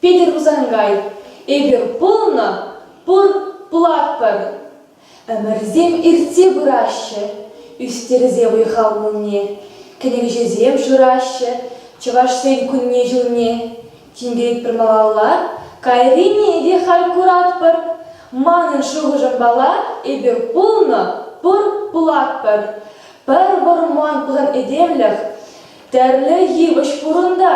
Питӗр Хусанкай, эпир пулнӑ, пур, пулатпӑр. Ӗмӗрсем иртсе пыраҫҫӗ, ӳстерсе вӑй-хал кунне, кӗнекеҫӗсем шыраҫҫӗ Чӑвашсен кунне-ҫулне. Тинкеретпӗр малалла, кайрине те халь куратпӑр. Манӑн шухӑшӑмпала эпир пулнӑ, пур, пулатпӑр. Пӗр вӑрман пусан этемлӗх тӗрлӗ йывӑҫ пурӑнта.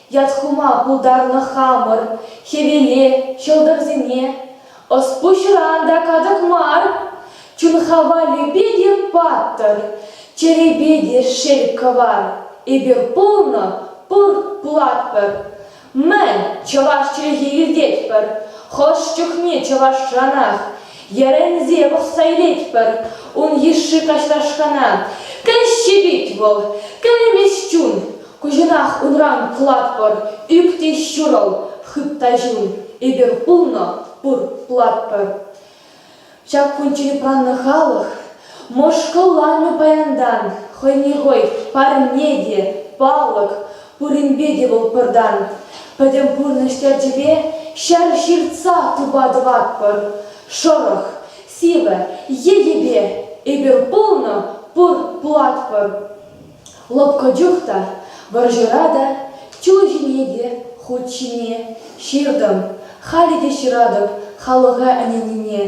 Ят хума пултарнӑ хамӑр хӗвеле, ҫӑлтӑрсене. Ӑс-пуҫран та катӑк мар, чун-ха валӗпе те паттӑр, чӗрепе те шел кӑвар. Эпир пулнӑ, пуртлатпӑр. Мӗн, чӑваш чӗлхи илтетпӗр, хӑш чухне чӑвашранах йӗрӗнсе пӑхса илетпӗр ун йышши каҫлашкана. Кӗлҫи пит вӑл, кӗлмест чун. Куҫӑнах унран кӑлатпӑр, ӳк те ҫурӑл, хытта ҫул, эпир пулнӑ, пурлатпӑр. Ҫак кунччен упраннӑ халӑх мӑшкӑлланӑ паянтан, хӑйне хӑй парне те, палӑк, пуринпе те вӑл пӑртан. Пӗтӗм пурнӑҫ терчӗпе ҫӗр ҫыртса тупа тӑватпӑр. Шӑрӑх, сивӗ, йӗкӗпе эпир пулнӑ, пурлатпӑр. Лӑпкӑ чух та, вӑрҫӑра та, чул ҫине те, хут ҫине ҫыртӑм. Халӗ те ҫыратӑп халӑха ӗненнине.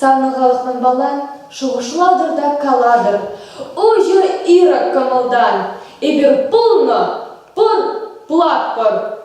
Савнӑ халӑх манпала шухӑшлатӑр та калатӑр, Уҫӑр ирӗк кӑмӑлтан, эпир пулнӑ, пур, пулатпӑр!